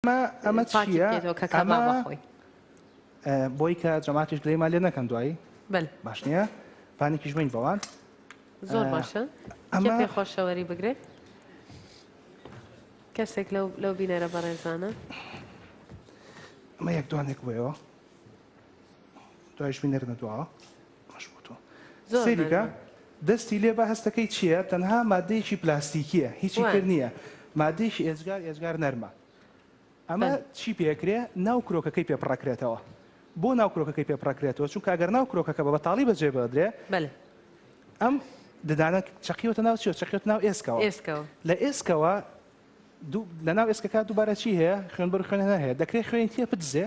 ئەمە ئەمە چیە ئەمە خۆی بۆی کە جەماتیش گرێمان لێ نەکەن دوایی باش نییە پانێکیش بین بەوان زۆر باشە ئەمە پێ خۆشەوەری بگرێت کەسێک لەو لەو بینەرە بەڕێزانە ئەمە یەک دوانێک بۆیەوە دوایش بینەر نەدووە باش بۆ تۆ زۆر سەیری کە مەزە. دەستی لێ بە هەستەکەی چیە تەنها مادەیەکی پلاستیکیە هیچی تر وان. نیە مادەیەکی ئێجگار ئێجگار نەرمە ئەمە بەن. چی پێ ئەکرێ ناو کرۆکەکەی پێ پڕ ئەکرێتەوە بۆ ناو کرۆکەکەی پێ پڕ ئەکرێتەوە چونکە ئەگەر ناو کرۆکەکە بە بەتاڵی بەجێ بەدرێ بەلێ ئەم ددانە چەقیوەتە ناو چیەوە چەقیوەتە ناو ئێسکەوە ئێسکەوە. لە ئێسکەوە لەناو ئێسکەکە دووبارە چی هەیە؟ خوێنبەر و خوێنهێنەر هەیە. دەکرێت خوێنی تێ بدزێ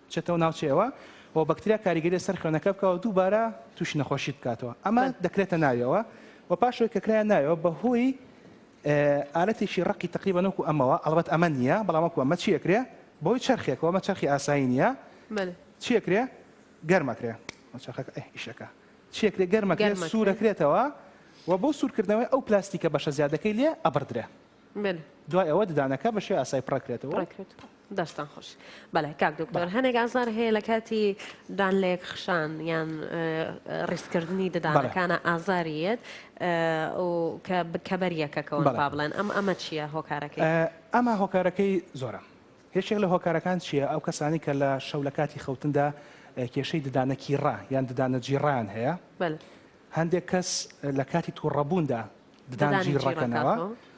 بچێتەوە ناوچەیەوە و بەکتریا کاریگەری سەر خوێنەکە بکەوە دووبارە تووشی نەخۆشی بکاتەوە. ئەمە دەکرێتە ناویەوە و پاشەوەی کە کرایە ناویەوە بەهۆی ئالەتێکی ڕقی تقریبا نۆکو ئەمەوە ئەڵبەت ئەمە نییە بەڵام وەکو ئەمە چیەکرێ بەهۆی چرخێکەوە مە چرخی ئاسایی نییە چیەکرێ گەرمەکرێ ئیشەکە چی ئەکرێ گەرم ئەکرێ سوور ئەکرێتەوە و بۆ سوور کردنەوەی ئەو پلاستیکە بەشە زیادەکەی لێ ئەبڕدرێ دوای ئەوە ددانەکە بە شێوەی ئاسایی پڕەکرێتەوە دەستان خۆش بەڵێ کاک دکتۆر هەنێک ئازار هەیە لە کاتی دان لەیەک خشان یان ڕیسکردنی ددانەکانە ئازاریەت کە بکەبەریەکەکەەوە با بڵێن ئەم ئەمە چییە هۆکارەکەی ئەمە هۆکارەکەی زۆرە یەکێک لە هۆکارەکان چییە؟ ئەو کەسانەی کە لە شەو لە کاتی خەوتندا کێشەی ددانە کیڕا یان ددانە جیڕایان هەیە، هەندێک کەس لە کاتی توڕەبووندا ددان جیڕەکەنەوە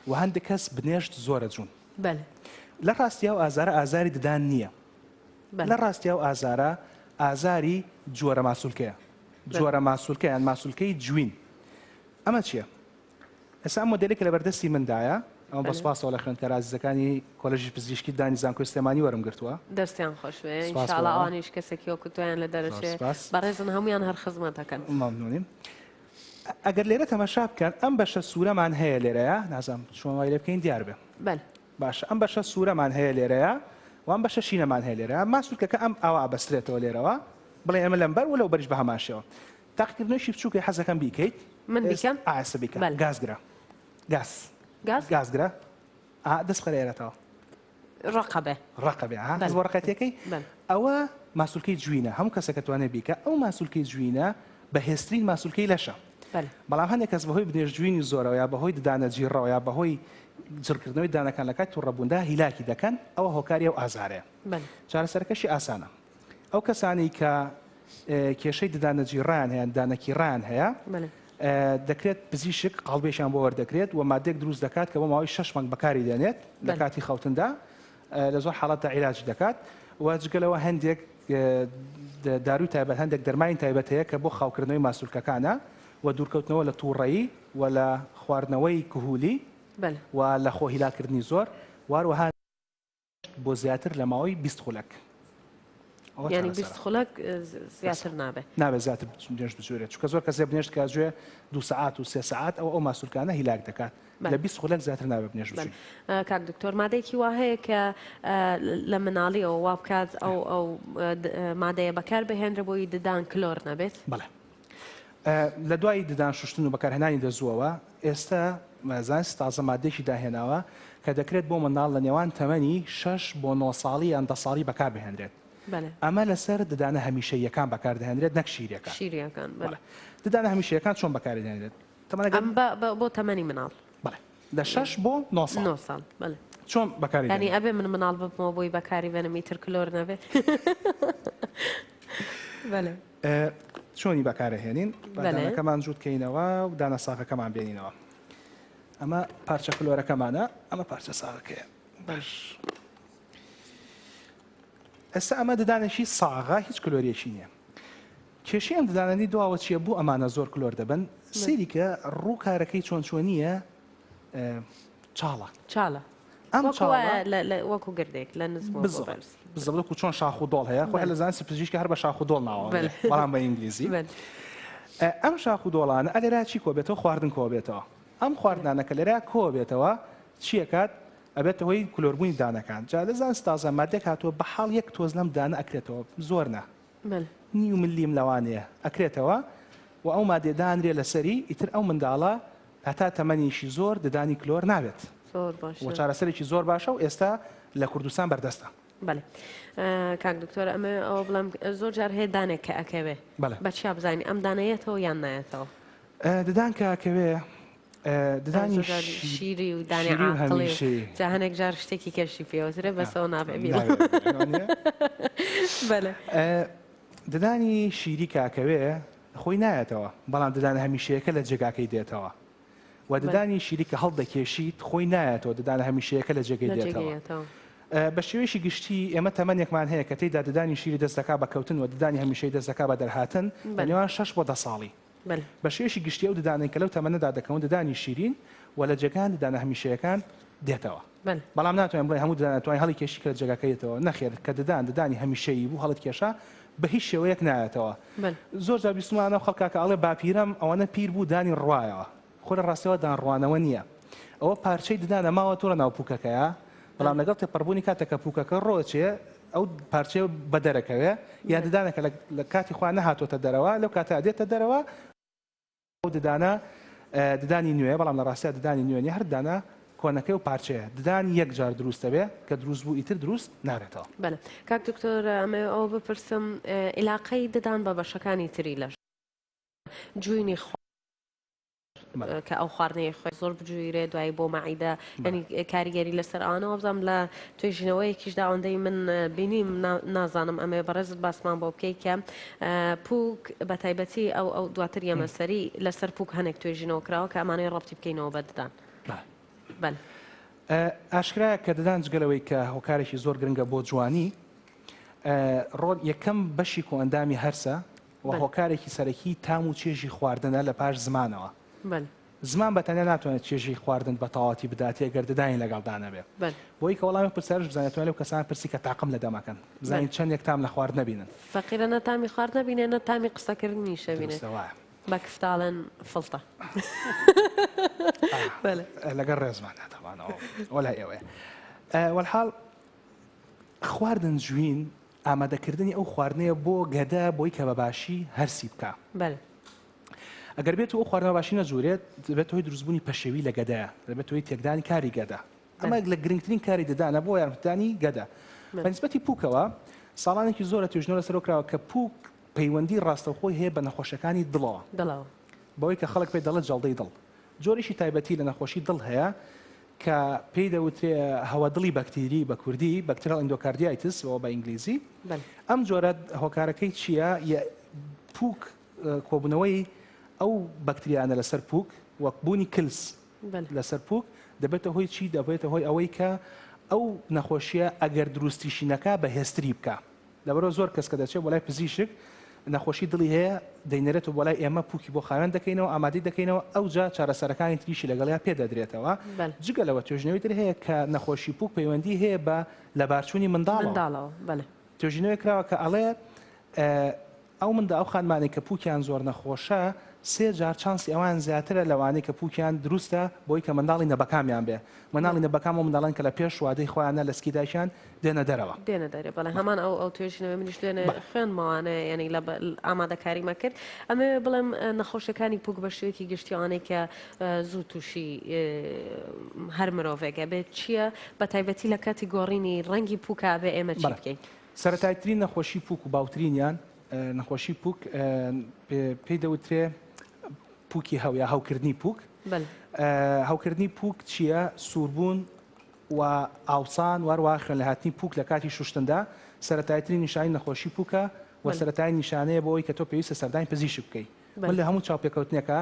و هەندێک کەس بنێشت زۆرە جوون. لە ڕاستیا و ئازارە ئازاری ددان نییە، لە ڕاستیا و ئازارە ئازاری جۆرە ماسولکەیە، جۆرە ماسولکە یان ماسولکەی جوین. ئەمە چییە؟ ئێستا ئەم مۆدێلەی کە لەبەردەستی مندایە، ئەمە بە سوپاسەوە لە خوێندکارە ئازیزەکانی کۆلێژی پزیشکی دانی زانکۆی سلێمانی وەرم گرتووە. دەستیان خۆش بێ، ان شاء اللە ئەوانیش کەسێکی وەکو تۆیان لە دەرەچێ، بەڕێزن هەموویان هەر خزمەتەکەن. مەمنونین. ئەگەر لێرە تەماشا بکەن ئەم بەشە سوورەمان هەیە لێرەیە، نازانم چۆن وای لێ بکەین دیار بێ. بەل. باشە ئەم بەشە سوورەمان هەیە لێرەیە و ئەم بەشە شینەمان هەیە لێرە، ئەمما سوورکەکە ئەم ئاوا ئەبەسترێتەوە لێرەوە، بڵێ ئێمە لەمبەر و لەوبەریش بە هەمان شێوە. تاقیکردنەوەیەکی بچووکە حەز دەکەم بیکەیت. من بیکەم؟ ئا ئێستا بیکە. بەل. گاز گرە. گاز. گاز؟ گاز گرە. ئا دەست بخەرە ئێرەتەوە. ڕەقە بێ. ڕەقە بێ. ها بەل. هەست بۆ ڕەقێتییەکەی؟ بەل. ئەوە ماسولکەی جوینە. هەموو کەسێک ئەتوانێت بیکا. ئەو ماسولکەی جوینە بەهێزترین ماسولکەی لەشە. بەل. بەڵام هەندێک کەس بەهۆی بنێشتجوینی زۆرەوە یا بەهۆی ددانە جیڕڕەوە یا بەهۆی جڕکردنەوەی ددانەکان لە کاتی توڕەبووندا هیلاکی دەکەن، ئەوە هۆکاری ئەو ئازارەیە. بەل. چارەسەرەکەشی ئاسانە. ئەو کەسانەی کە کێشەی ددانەجیڕەیان هەیان دانەکیڕەیان هەیە دەکرێت پزیشک قاڵبێکیان بۆ وەردەکرێت و مادێک دروست دەکات کە بۆ ماوەی شش مانگ بەکاری دێنێت لە کاتی خەوتندا لە زۆر حاڵەتە عیراجی دەکات و جگەلەوە هەندێک داروی تایبەت هەندێک دەرمانی تایبەت هەیە کە بۆ خاوکردنەوەی ماسولکەکانە و دوورکەوتنەوە لە تووڕەیی و لە خواردنەوەی کهولی و لە خۆهیلاکردنی زۆر واروها بۆ زیاتر لە ماوەی بیست خولەک. یانی بیست خولەک زیاتر نابێت نابێت زیاتر بنێشت بجوێرێت چکە زۆر کەسێ بنێشت کا جوێ دو سعات و سێ سعات ئەو ئەو ماسولکانە هیلاک دەکات لە بیست خولەک زیاتر نابێت بنێشت کاک دکتۆر مادێکی وا هەیە کە لە مناڵیەوە وا بکات ئەو ئەو مادەیە بەکار بهێنرە بۆی ددان کلۆر نەبێت بەڵێ لە دوای ددان شوشتن و بەکارهێنانی دەزووەوە، ئێستە زانستی تازە ماددەیەکی داهێناوە کە دەکرێت بۆ منداڵ لە نێوان تەمەنی شەش بۆ نۆ ساڵی یان دە ساڵی بەکاربهێنرێت. ئەمە لەسەر ددانە هەمیشەییەکان بەکاردەهێنرێت نەک شیرییەکان. ددانە هەمیشەییەکان چۆن بەکاردەهێنرێت؟ بۆ تەمەنی منداڵ. لە شەش بۆ نۆ ساڵ. چۆن بەکاردەهێنرێت؟ یانی ئەبێ من منداڵ ببمەوە بۆی بەکاریبهێنم ئیتر کلۆر نەبێت؟ چۆنی بەکارەهێنین با دانەکەمان جووت کەینەوە و دانە ساغەکەمان بێنینەوە ئەمە پارچە کلۆرەکەمانە ئەمە پارچە ساغەکەیە باش ئێستا ئەمە ددانێکی ساغا هیچ کلۆریەکی نییە کێشیان ددانانی دواوە چیە بۆ ئەمانە زۆر کلۆر دەبن سریکە ڕوو کارەکەی چۆن چۆنیە چاڵە چاڵە ئەم وەکو گردێک لە نزم بزڵک و چۆن شاخ و دۆڵ هەیە خۆ لە زانسی پزیشکی هەر بە شاخ و دۆڵ ناوە بەڵام بە ئینگلیزی ئەم شاخ و دۆڵانە ئەلێرا چی کۆ بێتەوە خواردن کۆ بێتەوە ئەم خواردنانەکە لێرا کۆ بێتەوە چیەکات ئەبێت هۆی کلۆربوونی دانەکان جا لە زانستازە مادێک هاتووە بە حاڵ یەک تۆز لەم دانە ئەکرێتەوە زۆر نا مل. نیو ملیم لەوانەیە ئەکرێتەوە و ئەو مادەیە دانرێ لەسەری ئیتر ئەو منداڵە هەتا تەمەنیشی زۆر ددانی کلۆر نابێت زۆر باشە و چارەسەرێکی زۆر باشە و ئێستا لە کوردستان بەردەستە بەێ کاک دکتۆر ئەمە ئەوە بڵم زۆر جار هەیە دانێک کە ئەکەوێ بەچیا بزانین ئەم دانەیەتەوە یان نایەتەوە ددان کەکەوێ ددانی شیری و دانی عاقڵی و جا هەنێک جار شتێکی کەشی پێوەترە بەسەوە نابێ ددانی شیری کاکەوێ خۆی نایەتەوە بەڵام ددان هەمیشەیەکە لە جێگاکەی دێتەوە و ددانی شیری کە هەڵدەکێشیت خۆی نایەتەوە ددان هەمیشەیەکە لە جێگەی دێتەوە بە شێوەیەشی گشتی ئێمە تەمەنێکمان هەیە کە تێیدا ددانی شیری دەستەکە بە کەوتن و ددانی هەمیشەی دەستەکە بە دەرهاتن بە نێوان شش بۆ دە ساڵی بە شێوەیەکی گشتی ئەو ددانەی کە لەو تەمەنەدا دەکەون ددانی شیرین و لە جێگان ددانە هەمیشەیەکان دێتەوە بەڵام ناتوانین بڵێ هەموو ددان توانین هەڵی کێشی کە جێگاکەیەتەوە نەخێر کە ددان ددانی هەمیشەیی بوو هەڵت کێشا بە هیچ شێوەیەک نایەتەوە زۆر جا بیستمانە خەڵکاکە ئەڵێ باپیرەم ئەوەنە پیر بوو دانی ڕوایەوە خۆ لە ڕاستیەوە دانڕوانەوە نییە. ئەوە پارچەی ددانە ماوەتەوە لە ناو پووکەکەیا، بەڵام لەگەڵ تێپەڕبوونی کاتێک کە پووکەکە ڕۆچێ، ئەو پارچەیە بە دەرەکەوێ، یان ددانەکە لە کاتی خۆیان نەهاتۆتە دەرەوە، لەو کاتەیا دێتە دەرەوە، ئەو ددانە ددانی نوێیە، بەڵام لە ڕاستییا ددانی نوێ نییە، هەر ددانە کۆنەکەی و پارچەیە ددان یەک جار دروست دەبێ، کە دروست بوو ئیتر دروست نابێتەوە. بەلێ. کاک دکتۆر ئەمەوێ ئەوە بپرسم ئیلاقەی ددان بە بەشەکانی تری لەش جوینی خۆ. کە ئەو خواردنەی خۆی زۆر بجویرێ دوایی بۆ مەعیدە ینی کاریگەری لەسەر ئەوانەوە بزانام لە توێژینەوەیەکیش داوەندەی من بینیم نازانم ئەمێ بەڕێزت باسمان بۆ بکەیت کە پوک بە تایبەتی ئەو ئەو دواتر یەمەسەری لەسەر پوک هەنێک توێژینەوە کراوە کە ئەمانەی ڕەتی بکەینەوە بەددان بەن. ئاشکرایە کە ددان جگەلەوەی کە هۆکارێکی زۆر گرنگە بۆ جوانی ڕۆل یەکەم بەشی کۆئەندامی هەرسە و هۆکارێکی سەرەکیی تام و چێژی خواردنە لە پاش زمانەوە. زمان بە تەنیا ناتوانێت چێژی خواردن بە تەواوەتی بداتێ گەر ددانی لەگەڵدا نەبێ. بۆی کە وەڵامی ئەو پرسیارەش بزانێ توانێ لەو کەسانە پرسی کە تاقم لە دەمەکەن بزانین چەندێک تام لە خواردنە بینن. فەقیرە نە تامی خواردنە بینێ نە تامی قسەکردنیشە بینێ. دروستە وایە. بە کفتاڵن فڵتە. بەلێ. لەگەڵ ڕێزماندا تابان ئەوە لای ئێوەیە. وەلحاڵ خواردن جوین ئامادەکردنی ئەو خواردنەیە بۆ گەدە بۆی کە بە باشی هەرسی بکا. بەلێ. ئەگەر بێت و ئەو خواردنە بە باشی نەجورێت دەبێتە هۆی دروستبوونی پەشێوی لە گەدەیە، دەبێتە هۆی تێکدانی کاری گەدە. ئەمە یەک لە گرنگترین کاری ددانە بۆ یارمەتیدانی گەدە. بە نیسبەتی پووکەوە، ساڵانێکی زۆرە توێژینەوە لەسەرەوە کراوە کە پووک پەیوەندی ڕاستەوخۆی هەیە بە نەخۆشییەکانی دڵەوە. دڵەوە. بەوەی کە خەڵک پێی دەڵێت جەڵدەی دڵ. جۆرێکی تایبەتی لە نەخۆشی دڵ هەیە کە پێی دەوترێ هەوادڵی بەکتیری بە کوردی بەکترال ئیندۆکاردیایتس و بە ئینگلیزی ئەم جۆرە هۆکارەکەی چییە یە پووک کۆبوونەوەی ئەو بەکتریانە لەسەر پووک وەک بوونی کلس لەسەر پووک دەبێتە هۆی چی دەبێتە هۆی ئەوەی کە ئەو نەخۆشیە ئەگەر دروستیشی نەکا بە هێستری بکە لەبەرئەوە زۆر کەس کە دەچێت بۆ لای پزیشک نەخۆشی دڵی هەیە دەینێرێتەوە بۆ لای ئێمە پوکی بۆ خاوێن دەکەینەوە ئامادەی دەکەینەوە ئەوجا چارەسەرەکانی تریشی لەگەڵیا پێ دەدرێتەوە جگە لەوە توێژینەوەی تر هەیە کە نەخۆشی پوک پەیوەندی هەیە بە لەبارچوونی منداڵەوە توێژینەوەی کراوە کە ئەڵێ ئەو منداڵ ئەو خانمانەی کە پوکیان زۆر نەخۆشە سێ جار چانسی ئەوان زیاترە لەوانەی کە پوکیان دروستە بۆی کە منداڵی نەبەکامیان بێ منداڵی نەبەکام ئەو منداڵەن کە لە پێش وادەی خۆیانە لە سکی دایکیان دێنە دەرەوە. دێنە دەرێ بەڵێ هەمان ئەو ئەو توێژینەوەی منیش دوێنێ خوێندمەوانە یانی لە ئامادەکاریمە کرد ئەمەوێ بڵێم نەخۆشیەکانی پوک بە شێوەیەکی گشتی ئەوانەی کە زوو تووشی هەر مرۆڤێکە بێت چییە بە تایبەتی لە کاتی گۆڕینی ڕەنگی پوکا بێ ئێمە چی بکەین؟ سەرەتایترین نەخۆشی پوک و باوترینیان نەخۆشی پوک پێی دەوترێ پوکی هەو یا هەوکردنی پوک هەوکردنی پوک چییە سووربوون و ئاوسان واروا خوێن لە هاتنی پوک لە کاتی شوشتندا سەرەتایترین نیشانی نەخۆشی پوکە و سەرەتای نیشانەیە بۆ ئەوی کە تۆ پێویستە سەردانی پزیشک بکەیت من لە هەموو چاوپێکەوتنێکە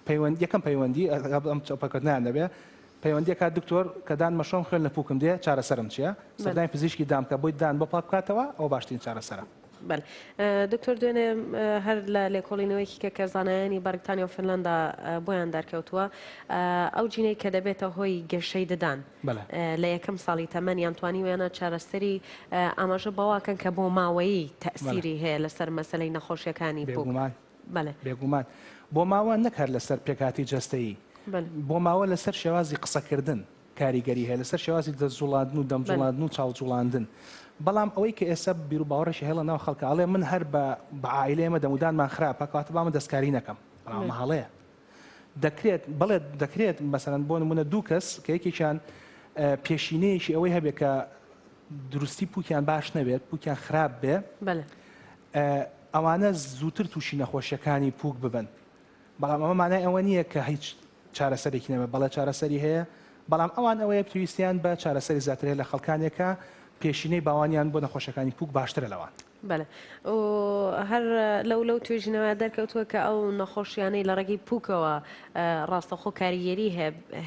پەیوەند یەکەم پەیوەندی ئەگەڵ ئەم چەوپەکردنەیان دەبێ پەیوەندی ئەکات دکتۆر کە دان مەشۆم خوێن لە پوکم دێ چارەسەرم چیە بەل. سەردانی پزیشکی دام کە بۆی دان بۆ پاک بکاتەوە ئەوە باشترین چارەسەرە. بەل دکتۆر دوێنێ هەر لە لێکۆڵینەوەیەکی کە کە زانایانی بەرگتانیا و فنلەندا بۆیان دەرکەوتووە ئەو جینەی کە دەبێتە هۆی گەشەی ددان بەلێ. لە یەکەم ساڵی تەمەن یان توانیویانە چارەسەری ئاماژە بەوە کەن کە بۆ ماوەیی بەلێ. تەئسیری هەیە لەسەر مەسەلەی نەخۆشیەکانی پوک. بێگومان بەڵێ. بێگومان بۆ ماوە نەک هەر لەسەر پێکهاتەی جەستەیی، بۆ ماوە لەسەر شێوازی قسەکردن کاریگەری هەیە، لەسەر شێوازی دەست جوڵاندن و دەم جوڵاندن و چاو جوڵاندن. بەڵام ئەوەی کە ئێستا بیروباوەڕێکی هەیە لە ناو خەڵکا ئەڵێ من هەر بە عائیلەیەمە دەمودانمان خراپە کەواتە با من دەستکاری نەکەم. بەڵام ئەمە هەڵەیە. دەکرێت، بەڵێ دەکرێت، مەسەلەن بۆ نموونە دوو کەس کە یەکێکیان پێشینەیەکی ئەوەی هەبێت کە دروستی پووکیان باش نەبێت، پووکیان خراپ بێ، ئەوانە زووتر تووشی نەخۆشیەکانی پووک ببن، بەڵام ئەمە مانای ئەوە نییە کە هیچ چارەسەرێکی نەبێت، بەڵێ چارەسەری هەیە، بەڵام ئەوان ئەوەیە پێویستیان بە چارەسەری زیاترێت لە خەڵکانێکە پێشینەی باوانیان بۆ نەخۆشەکانی پووک باشترە لەوان. بەلێ و هەر لەو لەو توێژینەوە دەرکەوتووە کە ئەو نەخۆشیانەی لە ڕێگەی پووکەوە ڕاستەخۆ کاریگەری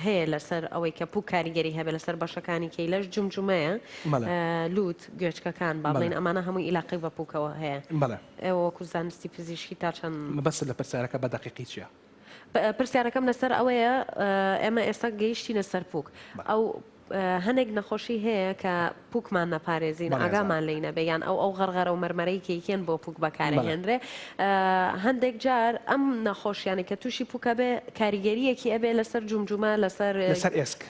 هەیە لەسەر ئەوەی کە پوو کاریگەری هەبێ لەسەر بەشەکانی کەی لەش جمجمەیە لووت گوێچکەکان با بڵین ئەمانە هەموو ئیلاقی بە پووکەوە هەیە وەکو زانستی پزیشکی تا چەند مەبەست لە پرسیارەکە بە دەقیقی چیە؟ پرسیارەکەم لەسەر ئەوەیە ئێمە ئێستا گەیشتینە سەر پوک ئەو هەنێک نەخۆشی هەیە کە پوکمان نەپارێزین ئاگامان لی نەبێ یان ئەو ئەو غەرغەرە و مەرمەرەی کەیکێن بۆ پوک بەکارهێنرێ هەندێک جار ئەم نەخۆشیانی کە تووشی پوکە بێ کاریگەریەکی ئەبێ لەسەر جومجومە لەسەر لەسەر ئێسک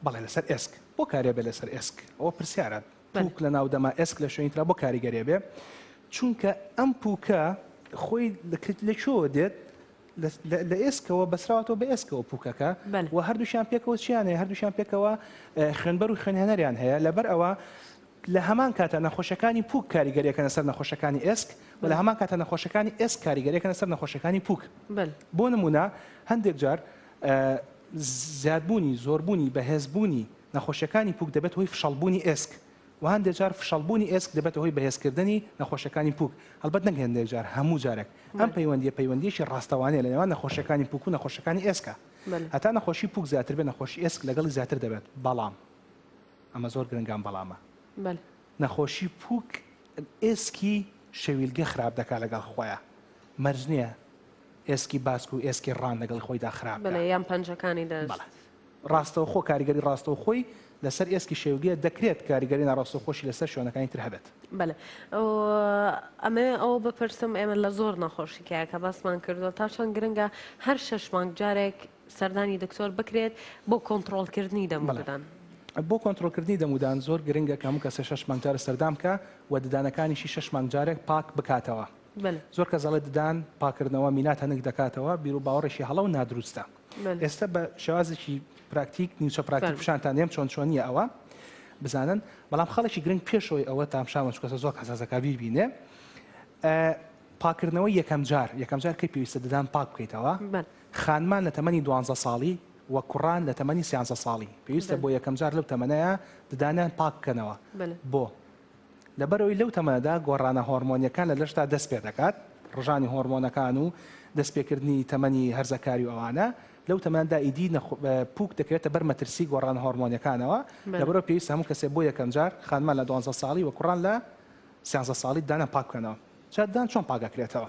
بەڵێ لەسەر ئێسک بۆ کارێ بێ لەسەر ئێسک ئەوە پرسیارە پوک لە ناو دەما ئێسک لە شوێنی ترا بۆ کاریگەرێ بێ چونکە ئەم پوکە خۆی لە چۆوە دێت لە ئێسکەوە بەسراوەوە بە ئێسکەوە پوکەکە و هەردووشیان پێکەوە چیان هەیە هەردووشیان پێکەوە خوێنبەر و خوێنهێنەریان هەیە لەبەر ئەوە لە هەمان کاتە نەخۆشەکانی پوک کاریگەریەکەنە سەر نەخۆشەکانی ئێسک و لە هەمان کاتە نەخۆشەکانی ئێسک کاریگەریەکەنە سەر نەخۆشەکانی پوک بۆ نمونە هەندێک جار زیادبوونی زۆربوونی بەهێزبوونی نەخۆشیەکانی پوک دەبێتە هۆی فشەڵبوونی ئێسک و هەندێک جار فشەڵبوونی ئێسک دەبێتە هۆی بەهێزکردنی نەخۆشیەکانی پوک، هەڵبەت نەک هێندێک جار هەموو جارێک ئەم پەیوەندیە پەیوەندیەکی ڕاستەوانەیە لە نێوان نەخۆشیەکانی پوک و نەخۆشیەکانی ئێسکا هەتا نەخۆشی پوک زیاتر بێت نەخۆشی ئێسک لەگەڵی زیاتر دەبێت بەڵام ئەمە زۆر گرنگە ئەم بەڵامە نەخۆشی پوک ئێسکی شەویلگە خراپ دەکات لەگەڵ خۆیا مەرج نیە ئێسکی باسک و ئێسکی ڕان لەگەڵ خۆیدا خراپ بەڵێ یان پەنجەکانی دەست بەڵێ ڕاستەوخۆ کاریگەری ڕاستەوخۆی لەسەر ئێسکی شێوگیە، دەکرێت کاریگەری ناڕاستەوخۆشی لەسەر شوێنەکانی تر هەبێت. بەلێ ئەمەوێ ئەوە بپرسم ئێمە لە زۆر نەخۆشی کە کە باسمان کردووە تا چەند گرنگە هەر شەش مانگ جارێک سەردانی دکتۆر بکرێت بۆ کۆنتترۆلکردنی دەمەدان. بۆ کۆنتترۆلکردنی دەمودان زۆر گرنگە کە هەموو کەسە شش مانگجارە سەردام کە و ددانەکانیشی شش مانگجارێک پاک بکاتەوە زۆر کە زەڵێ ددان پاکردنەوە مینات هەنک دەکاتەوە بیرو باوەڕێکی هەڵە و نادروستە. ئێستا بە شێوازێکی پراکتیک نیوچە پراکتیک پیشانتان دێم چۆن چۆنیە ئەوە بزانن بەڵام خەڵکی گرنگ پێشەوەی ئەوە تامشامەش کەسە زۆر حساسەکە بیبینێ پاکردنەوە یەکەم جار یەکەم جار کە پێویستە ددان پاک بکەیتەوە خانمان لە تەمەنی دوانزە ساڵی و کوڕان لە تەمەنی سیانزە ساڵی پێویستە بۆ یەکەم جار لەو تەمەەیە ددانیان پاک بکەنەوە بۆ لەبەرئەوەی لەو تەمەنەدا گۆڕانە هۆرمۆنیەکان لە لەشدا دەست پێدەکات، ڕژانی هۆرمۆنەکان و دەست پێکردنی تەمەنی هەرزەکاری و ئەوانە، لەو تەمەنەدا ئیدی پووک دەکەوێتە بەر مەترسی گۆڕانە هۆرمۆنیەکانەوە، لەبەرئەوە پێویستە هەموو کەسێک بۆ یەکەم جار خانمان لە دوانزە ساڵی و کوڕان لە سیانزە ساڵی ددانیان پاک بکەنەوە. جا ددان چۆن پاک ئەکرێتەوە؟